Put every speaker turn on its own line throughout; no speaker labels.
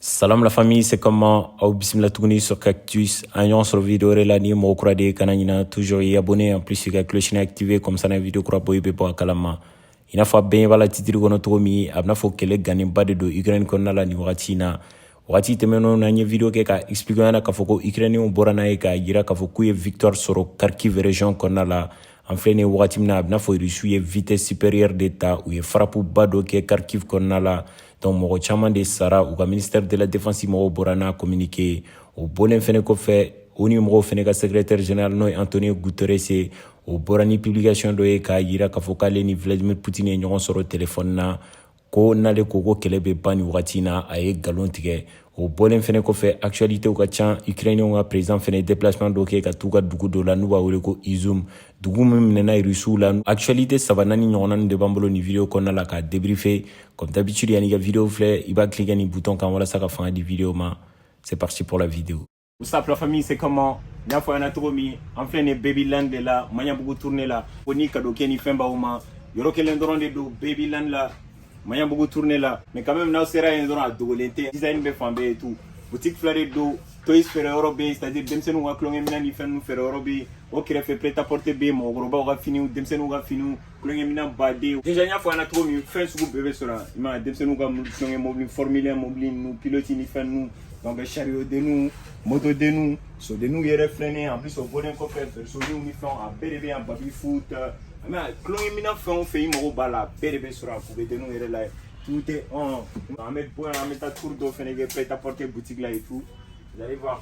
Salam la famille, c'est comment Aw bismillah tuguni sur Cactus. An ɲɔgɔn sɔrɔ vidéo wɛrɛ la ni mɔgɔ kura de kana ɲina toujours i abonné en plus i ka cloche activé comme ça n'an vidéo kura bɔ i bɛ bɔ a kalama. I n'a fɔ aw ɲɛ b'a la titre kɔnɔ cogo min a b'i n'a fɔ kɛlɛ gannenba de don Ukraine kɔnɔna la nin wagati in na. Wagati tɛmɛnenw na n ye vidéo kɛ k'a expliquer aw ɲɛna k'a fɔ ko Ukrainiens bɔra n'a ye k'a jira k'a fɔ k'u ye victoire sɔrɔ Kharkiv région kɔnɔna la. An filɛ nin ye wagati min na a b'i n'a fɔ Russie ye vitesse supérieure de ta u ye frappe ba dɔ kɛ Kharkiv kɔnɔna la. donc mɔgɔ caman de sara u ka ministère de la défense mɔgɔw bɔra n'a communiqué ye o bɔlen fɛnɛ kɔfɛ ONU mɔgɔw fɛnɛ ka secrétaire général n'o ye antonio guterres ye o bɔra ni publication dɔ ye k'a yira k'a fɔ k'ale ni vladimir putin ye ɲɔgɔn sɔrɔ telefɔni na ko n'ale ko ko kɛlɛ bɛ ban nin wagati in na a ye nkalon tigɛ o bɔlen fɛnɛ kɔfɛ actualitéw ka ca ukrainiyɛnw ka président fɛnɛ déplacement dɔ kɛ ka t'u ka dugu dɔ la n'u b'a wele ko izum dugu min minɛna rusiw la actualité saba nani ɲɔgɔnna nin de b'an bolo nin video kɔnɔna la k'a débriefe comme d'habitude yan'i ka video filɛ i b'a cliquer ni bouton kan walasa ka fanga di video ma c'est parti pour la video What's up la famille, c'est comment N y'a fɔ aw ɲɛna cogo min an filɛ nin Babyland de la Maɲabugu tourne la ko ni kado kɛ ni fɛn b'aw ma yɔrɔ kelen dɔrɔn de don Babyland la Maɲabugu tourne la mais quand même n'aw sera yen dɔrɔn a dogolen tɛ design bɛ fan bɛɛ et tout boutique fila de don toys feere yɔrɔ bɛ yen c'est à dire denmisɛnninw ka tulonkɛminɛn ni fɛn ninnu feere yɔrɔ bɛ yen o kɛrɛfɛ prêt à porter bɛ yen mɔgɔkɔrɔbaw ka finiw denmisɛnninw ka finiw tulonkɛminɛn bon déjà n y'a fɔ aw ɲɛna cogo min fɛn sugu bɛɛ bɛ sɔrɔ yen denmisɛnninw ka tulonkɛ mobili formule un mobili ninnu piloti ni fɛn ninnu donc sariyodenninw motodenninw sodenninw yɛrɛ filɛnen en plus o bɔlen kɔfɛ bersoninw ni fɛnw a bɛɛ de bɛ yan baby foot mais tulonkɛminɛn fɛn o fɛn i mago b'a la a bɛɛ de bɛ sɔrɔ a pupedenninw yɛrɛ la tout y est an bɛ bɔ yan an bɛ taa tour dɔ fɛnɛ kɛ prêt à porter boutique la et tout vous allez voir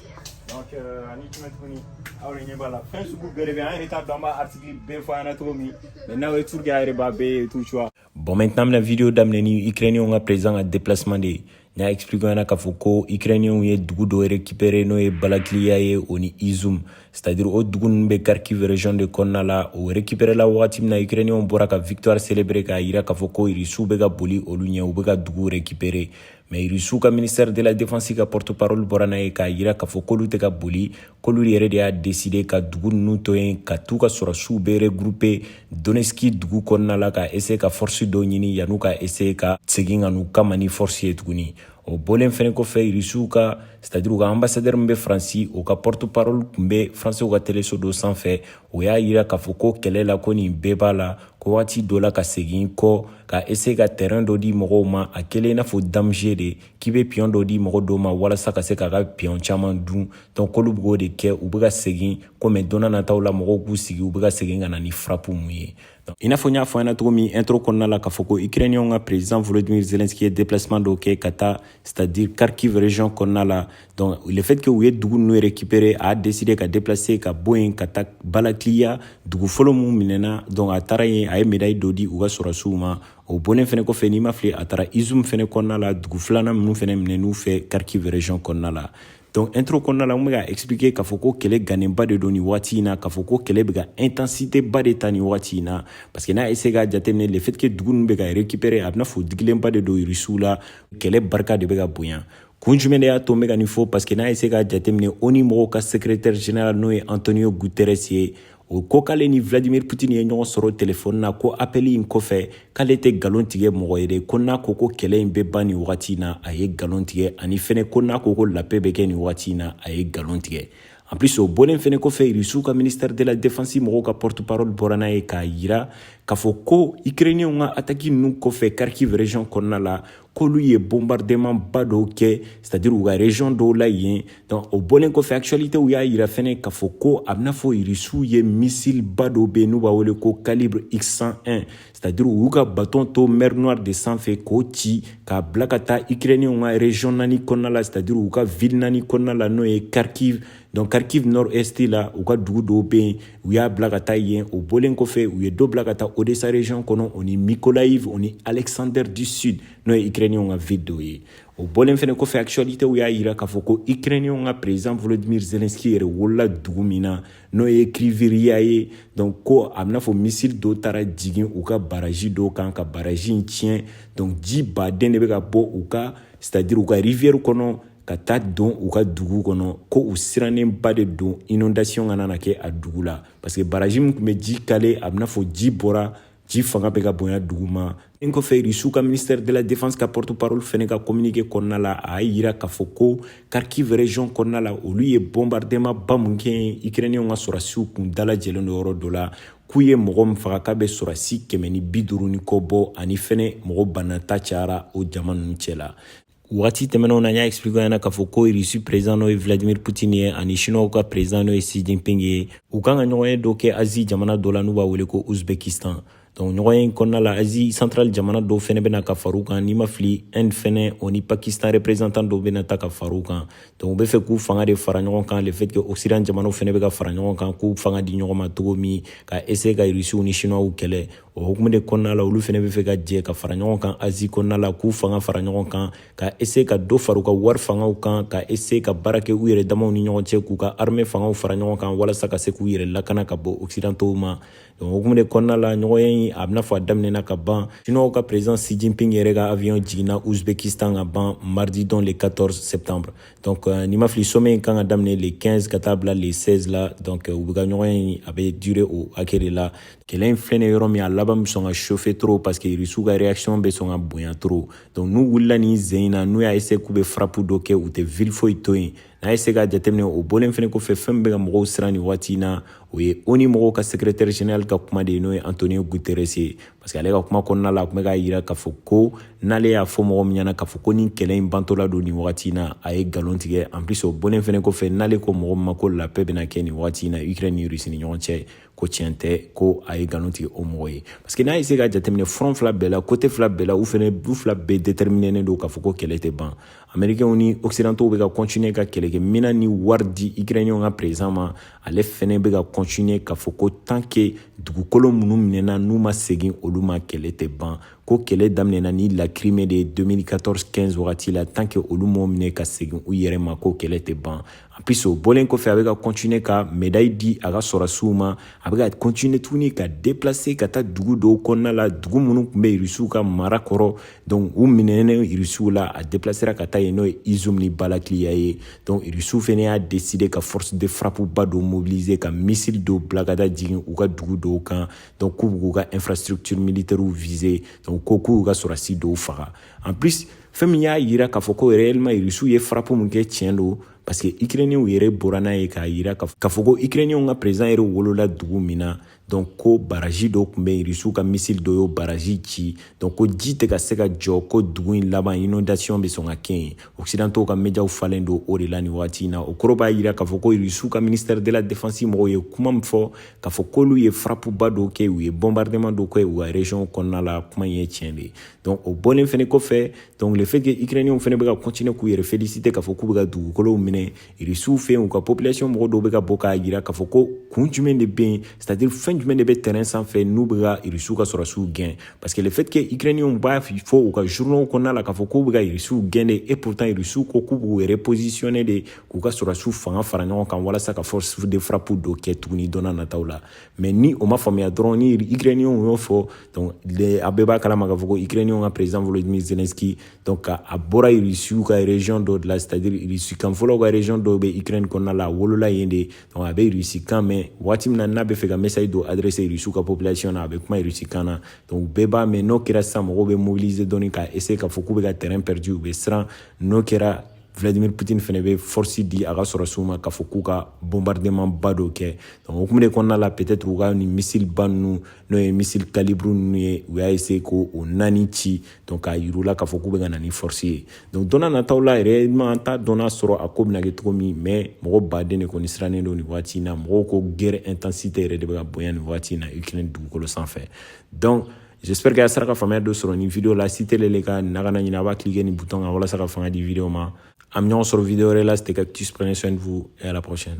donc euh, ani jumɛn tuguni aw de ɲɛ b'a la fɛn sugu bɛɛ de bɛ an yɛrɛ t'a dɔn an bɛ artikili bɛɛ fɔ aw ɲɛna cogo min mɛ n'aw ye turu kɛ aw yɛrɛ b'a bɛɛ ye tout choix bon maintenant an bɛna video daminɛ ni ukrainienw ka président ka déplacement de ye n y'a expliqué aw ɲɛna k'a fɔ ko ukrainienw ye dugu dɔ récupéré n'o ye balakiliya ye o ni izum c'est à dire o dugu ninnu bɛ kharkiv région de kɔnɔna la o récupéré la wagati min na ukrainienw bɔra ka victoire célébrer k'a yira k'a fɔ ko irisiw bɛ ka boli olu ɲɛ u bɛ ka dugu récupéré mɛ irisiw ka ministɛri de la defansi ka pɔrɔtoparoli bɔra n'a ye k'a yira k'a fɔ k'olu tɛ ka boli k'olu yɛrɛ de y'a deside ka dugu ninnu to yen ka t'u ka sɔrɔdasiw bɛɛ regroupe donetski dugu kɔnɔna la ka eseye ka fɔrisi dɔw ɲini yan'u ka eseye ka segin ka n'u kama ni fɔrisi ye tuguni o bɔlen fɛnɛ kɔfɛ irisiw ka c'est à dire u ka anbasadɛri min bɛ faransi o ka pɔrɔtoparoli tun bɛ faransiw ka teleso dɔ sanfɛ o y'a yira k'a fɔ ko kɛlɛ la ko nin bɛɛ b'a la ko waati dɔ la ka segin kɔ ka essayer ka tɛrɛn dɔ di mɔgɔw ma a kelen i n'a fɔ damge de k'i be piyɔn dɔ di mɔgɔ dɔw ma walasa ka se k'a ka piyɔn caaman dun donc olu b'o de kɛ u be ka segin komi don nataw la mɔgɔw k'u sigi u be ka segin ka na ni frapu mun ye i n'a fɔ n y'a fɔ ɲɛna cogo min intro kɔnɔna la k'a fɔ ko ukrainiyɛnw ka president volodimir zelenski ye deplacement dɔw kɛ ka taa c'est à dire kharkiv region kɔnɔna la Donc, le fait que u ye dugu ninnu récupérer a décidé ka déplacer ka bɔ yen ka taa balakiliya dugu fɔlɔ mun minɛna donc a taara yen a ye médaille dɔ di u ka sɔrɔsiw ma o bɔlen fɛnɛ kɔfɛ ni n ma fili a taara izium fɛnɛ kɔnɔna la dugu filanan minnu fɛnɛ minɛn'u fɛ kharkiv région kɔnɔna la donc intro kɔnɔna la n bɛ ka expliquer k'a fɔ ko kɛlɛ gannenba de don nin wagati in na k'a fɔ ko kɛlɛ bɛ ka intensité ba de ta nin wagati in na parce que n'a ye se k'a jateminɛ le fait que dugu ninnu bɛ ka récupérer a bɛ n'a fɔ digilenba de don irisiw la kɛlɛ barika de bɛ ka bonya Kun jumɛn de y'a to n bɛ ka nin fɔ parce que n'a ye se k'a jateminɛ ONU mɔgɔw ka secrétaire général n'o ye Antonio Guterres ye o ko k'ale ni Vladimir Putin ye ɲɔgɔn sɔrɔ telefɔni na ko appel in kɔfɛ k'ale tɛ galon tigɛ mɔgɔ ye de ko n'a ko ko kɛlɛ in bɛ ban nin wagati in na a ye galon tigɛ ani fɛnɛ ko n'a ko ko la paix bɛ kɛ nin wagati in na a ye galon tigɛ en plus o bɔlen fɛnɛ kɔfɛ irisiw ka ministère de la défense mɔgɔw ka porte parole bɔra n'a ye k'a yira k'a fɔ ko ukrainienw ka ataki ninnu kɔfɛ kharkiv région kɔnɔna la k'olu ye bombardement ba dɔw kɛ c'est à dire u ka region dɔw la yen donc o bɔlen kɔfɛ actualitéw y'a yira fɛnɛ k'a fɔ ko a bɛ n'a fɔ irisiw ye missile ba dɔw bɛ yen n'u b'a wele ko calibre x101 c'est à dire u y'u ka baton to mer noire de sanfɛ k'o ci k'a bila ka taa ukrainienw ka region naani kɔnɔna la c'est à dire u ka ville naani kɔnɔna la n'o ye kharkiv donc kharkiv nord est la u ka dugu dɔw bɛ yen u y'a bila ka taa yen o bɔlen kɔfɛ u ye dɔ bila ka taa odesa region kɔnɔ o ni mikolayiv o ni alexander du sud n'o ye ukrainiyɛnw ka ville dɔw ye o bɔlen fɛnɛ kɔfɛ actualitew y'a yira k'a fɔ ko ukrainiyɛnw ka président volodimir zelenski yɛrɛ wolola dugu min na n'o ye kriviriya ye donc ko a bɛ n'a fɔ missile dɔw taara jigin u ka baraji dɔw kan ka baraji in tiɲɛ donc ji ba de bɛ ka bɔ u ka c'est à dire u ka rivière kɔnɔ ka taa don u ka dugu kɔnɔ ko u sirannenba de don inondation kana na kɛ a dugu la parce que baraji min tun bɛ ji caler a bɛ n'a fɔ ji bɔra ji fanga bɛ ka bonya dugu ma nin kɔfɛ rusiw ka ministère de la défense ka porte parole fɛnɛ ka communiqué kɔnɔna la a y'a yira k'a fɔ ko kharkiv région kɔnɔna la olu ye bombardement ba mun kɛ yen ukrainiyɛnw ka sɔrɔsiw kun dalajɛlen don yɔrɔ dɔ la k'u ye mɔgɔ min faga k'a bɛ sɔrɔsi kɛmɛ ni bi duuru ni kɔ bɔ ani fɛnɛ mɔgɔ banna ta cayara o jama ninnu cɛ la Waati tɛmɛnenw na n y'a expliquer ɲɛna k'a fɔ ko Russie président n'o ye Vladimir Poutine ye ani Chinois ka président n'o ye Xi Jinping ye u kan ka ɲɔgɔnye dɔ kɛ Asie jamana dɔ la n'u b'a wele ko Uzbekistan donc ɲɔgɔnye in kɔnɔna la Asie centrale jamana dɔw fɛnɛ bɛ na ka far'u kan ni n ma fili Inde fɛnɛ o ni Pakistan représentant dɔw bɛna taa ka far'u kan donc u b'a fɛ k'u fanga de fara ɲɔgɔn kan le fait que Occident jamanaw fɛnɛ bɛ ka fara ɲɔgɔn kan k'u fanga di ɲɔgɔn ma cogo min ka essayer ka Russiw ni Chinois kɛlɛ o hukumu de kɔnɔna la olu fɛnɛ b'a fɛ ka jɛ ka fara ɲɔgɔn kan Asie kɔnɔna la k'u fanga fara ɲɔgɔn kan ka essayer ka dɔ fara u ka wari fangaw kan ka essayer ka baara kɛ u yɛrɛ damaw ni ɲɔgɔn cɛ k'u ka armée fangaw fara ɲɔgɔn kan walasa ka se k'u yɛrɛ lakana ka bɔ occidentaux ma donc o hukumu de kɔnɔna la ɲɔgɔnye in a bɛna fɔ a daminɛna ka ban chinois ka président xi jinping yɛrɛ ka avion jiginna uzbekistan ka ban mardi don le 14 septembre donc euh, ni n ma fili sommet in kan ka daminɛ le 15 ka taa bila le 16 la donc euh, u bɛ ka ɲɔgɔnye in a bɛ durer o hakɛ de la kɛlɛ in filɛ nin yɔrɔ min a laban bɛ sɔn ka chauffer trop parce que irisiw ka réaction bɛ sɔn ka bonya trop donc n'u wulila nin sen in na n'u y'a essayer k'u bɛ frappe dɔ kɛ u tɛ ville foyi to yen n'a y'a essayer k'a jateminɛ o bɔlen fana kɔfɛ fɛn min bɛ ka mɔgɔw siran nin waati in na o ye ONU mɔgɔw ka secrétaire général ka kuma de ye n'o ye Antonio Guterres ye parce que ale ka kuma kɔnɔna la a tun bɛ k'a jira k'a fɔ ko n'ale y'a fɔ mɔgɔ min ɲɛna k'a fɔ ko nin kɛlɛ in bantɔla don nin wagati in na a ye nkalon tigɛ en plus o bɔlen fana kɔfɛ n'ale ko mɔgɔ min ma ko la paix bɛna kɛ nin wagati in na Ukraine ni Russie ni ɲɔgɔn cɛ ko tiɲɛ tɛ ko a ye nkalon tigɛ o mɔgɔ ye parce que n'a y'a essayer k'a jateminɛ front fila bɛɛ la côté fila bɛɛ la u fana du fila bɛɛ déterminen don k'a fɔ ko kɛlɛ tɛ ban américainw ni occidentaux bɛ ka continuer ka kɛlɛkɛminɛn ni wari di ukrainien ka président ma ale fana bɛ ka continuer k'a fɔ ko tant que dugukolo minnu minɛna n'u ma segin olu ma kɛlɛ tɛ ban ko kɛlɛ daminɛna ni la Crimée de ye 2014 15 wagati la tant que olu m'o minɛ ka segin u yɛrɛ ma ko kɛlɛ tɛ ban en plus o bɔlen kɔfɛ a bɛ ka continuer ka médaille di a ka sɔrɔdasiw ma a bɛ ka continuer tuguni ka déplacer ka taa dugu dɔw kɔnɔna la dugu minnu tun bɛ irisiw ka mara kɔrɔ donc u minɛnen irisiw la a déplacera ka taa yen n'o ye Izioum ni Balakliia ye donc irisiw fana y'a décider ka force de frappe ba dɔ mobiliser ka missile dɔw bila ka taa jigin u ka dugu dɔw kan donc k'u bɛ k'u ka infrastructure militaire viser donc ko k'u ka sɔrɔdasi dɔw faga en plus fɛn min y'a yira k'a fɔ ko réellement irisiw ye frappe min kɛ tiɲɛ don parce que ukrainienw yɛrɛ bɔra n'a ye k'a yira k'a fɔ ko ukrainienw ka président yɛrɛ wolola dugu min na donc ko baraji dɔ tun bɛ yen irisiw ka missile dɔ y'o baraji ci donc ko ji tɛ ka se ka jɔ ko dugu in laban inondation bɛ sɔn ka kɛ yen occidentaux ka mediaw falen don o de la nin waati in na o kɔrɔ b'a yira k'a fɔ ko irisiw ka ministère de la défense mɔgɔw ye kuma min fɔ k'a fɔ k'olu ye frappe ba dɔ kɛ u ye bombardement dɔ kɛ u ka région kɔnɔna la kuma in ye tiɲɛ de ye donc o bɔlen fɛnɛ kɔfɛ donc le fait que ukrainiyɛnw fɛnɛ bɛ ka continuer k'u yɛrɛ féliciter k'a fɔ k'u bɛ ka dugukolow minɛ irisiw fɛ yen u ka population mɔgɔ dɔw bɛ ka bɔ k'a jira k'a fɔ ko kun jumɛn de bɛ yen c'est à dire fɛn jumɛn de bɛ terrain sanfɛ n'u bɛ ka irisiw ka sɔrɔdasiw gɛn parce que le fait que ukrainiyɛnw b'a fɔ u ka journaux kɔnɔna la k'a fɔ k'u bɛ ka irisiw gɛn de et pourtant irisiw ko k'u b'u yɛrɛ positionner de k'u ka sɔrɔdasiw fanga fara ɲɔgɔn kan walasa ka force de frappe dɔ kɛ tuguni don nataw la mais ni o ma faamuya dɔrɔn ni ukrainiyɛnw y'o fɔ donc a bɛɛ b'a kalama k'a fɔ ko ukrainiyɛnw ka président volodymyr zelensky donc k'a bɔra irisiw ka région dɔ de la c'est à dire irisi kan fɔlaw ka région dɔw bɛ ukraine kɔnɔna la a wolola yen de donc a bɛ irisi kan mɛn waati min na n'a bɛ fɛ ka message dɔ adresser irisiw ka population na a bɛ kuma irisi kan na donc bɛɛ b'a mɛn n'o kɛra sisan mɔgɔw bɛ mobiliser dɔɔni ka essayer k'a fɔ k'u bɛ ka terrain perdu u bɛ siran n'o kɛra vladimir putin fɛnɛ bɛ force di a ka sɔrɔdasiw ma k'a fɔ k'u ka bombardement ba dɔ kɛ donc o kuma de kɔnɔna la peut-être u ka nin missile ba ninnu n'o ye missile kalibr ninnu ye u y'a essayer k'o naani ci donc k'a yira u la k'a fɔ k'u bɛ ka na ni force ye donc don nataw la yɛrɛ ma an t'a dɔn n'a sɔrɔ a ko bɛna kɛ cogo min mais mɔgɔ baden de kɔni sirannen don nin waati in na mɔgɔw ko guerre intensité yɛrɛ de bɛ ka bonya nin waati in na ukraine dugukolo sanfɛ donc J'espère que a sera ka faamuya dɔ sɔrɔ nin video la si tel est le cas a kana ɲinɛ a b'a cliquer nin bouton kan walasa ka fanga di video ma. An bɛ ɲɔgɔn sɔrɔ video wɛrɛ la c'était Cactus prenez soin de vous et à la prochaine.